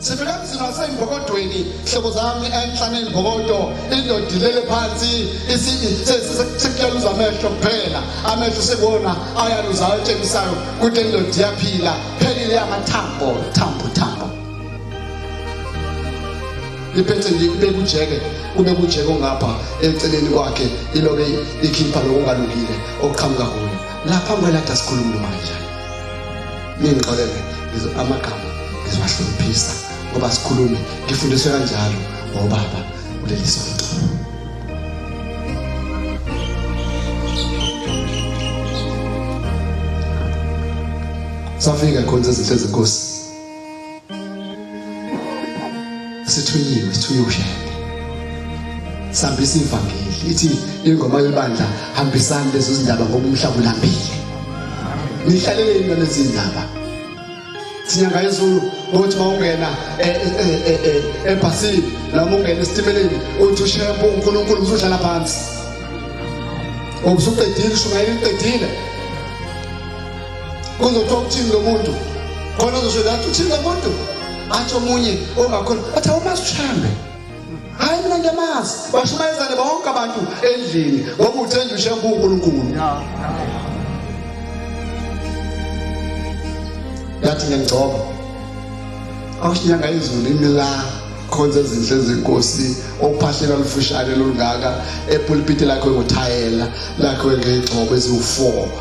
sivele emzini wasembokodweni hlobo zami enhlane imbokodo indoda ilele phansi sekuyaluza amehlo kuphela amehlo sekuwona ayaluzayo atshengisayo ukuthi indoda iyaphila phelile amathambo thambo thambo iphethe nje kube kujeke kube kujeke ongapha eceleni kwakhe ilobe ikhipha lokungalungile okuqhamuka kuyo lapha ngwelada sikhuluma uma kanjani ningixolele amagama ngizobahluphisa ngoba sikhulume ngifundiswe kanjalo ngobaba kuleli sonto safika khona izinto ezinkosi sithunyiwe sithunyiwe ushembe sihambisa ivangeli ithi ingoma yebandla hambisani lezo zindaba ngoba umhlaba ulambile nihlaleleni mina lezi zindaba sinyanga yezulu ukuthi mawungena eh, eh, eh, ebhasini noma ungena esitimeleni uthi ushempo unkulunkulu usuhlala phansi ubusuqedile ushumayela iqedile kungokho ukuthini lo muntu khona uzosho lathi uthini lo muntu athi omunye ongakhona athi awumasishambe hayi mina ngiyamazi bashumayezane bonke abantu endlini ngoba uthenda ushembe unkulunkulu yathi ngiyangcoba awushinyanga izulu imila khonza ezinhle zenkosi okuphahlela lufushane lolungaka epulpiti lakho ngothayela lakho ngegxobo eziwu-four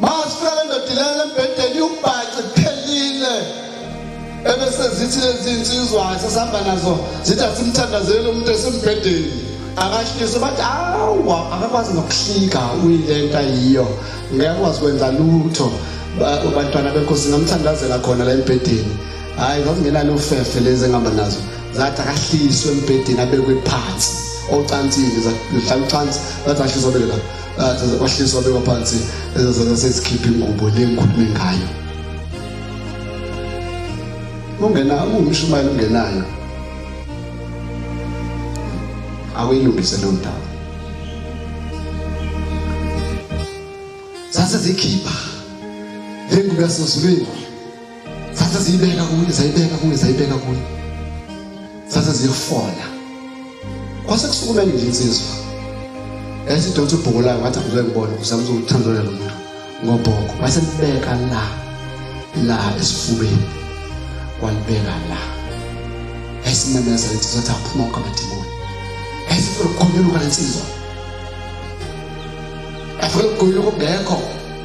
Masifela ndoda ilele embhedeni ubhace phelile. Ebese zithi lezi insizwa sesihamba nazo zithi asimthandazele umuntu esimbhedeni. Akashise bathi awa akakwazi nokuhlika uyilenta yiyo. Ngeke kwazi kwenza lutho. Abantwana benkosi ngamthandazela khona la embhedeni. Hayi zazingenalo ufefe lezi engihamba nazo. Zathi akahliswe embhedeni abekwe phansi. Ocansini zahlala ucansi bathi ahliswa bele lapha. athi kwahliswa beka phansi ezazana sezikhipha ingubo le ngikhulume ngayo ungena ungumshumayeli ungenayo awuyilungise leyo ndawo sase zikhipha le ngubo yasesulwini Sase ziyibeka kuye, zayibeka kuye, zayibeka kuye. Sase ziyifola. Kwase kusukumela nje insizwa. Esidonsa ubhuku layo ngathi akuze ngibone uzama ukuthandana lo muntu ngobhoko. Wase libeka la la esifubeni. Walibeka la. Esimemeza lithi sathi aphuma kwamadimoni. Esifukunyuluka lensizwa. Afukunyuluka ubhekho.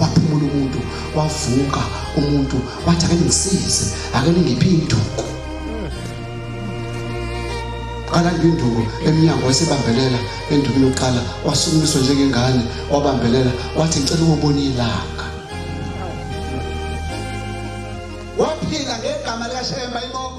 waphumula umuntu wavuka umuntu wathi ake ngisize ake ngiphi induku kalanda induku emnyango esebambelela enduku yokuqala wasukumiswa njengengane wabambelela wathi ngicela ukubona ilanga waphila ngegama likaShemba inkomo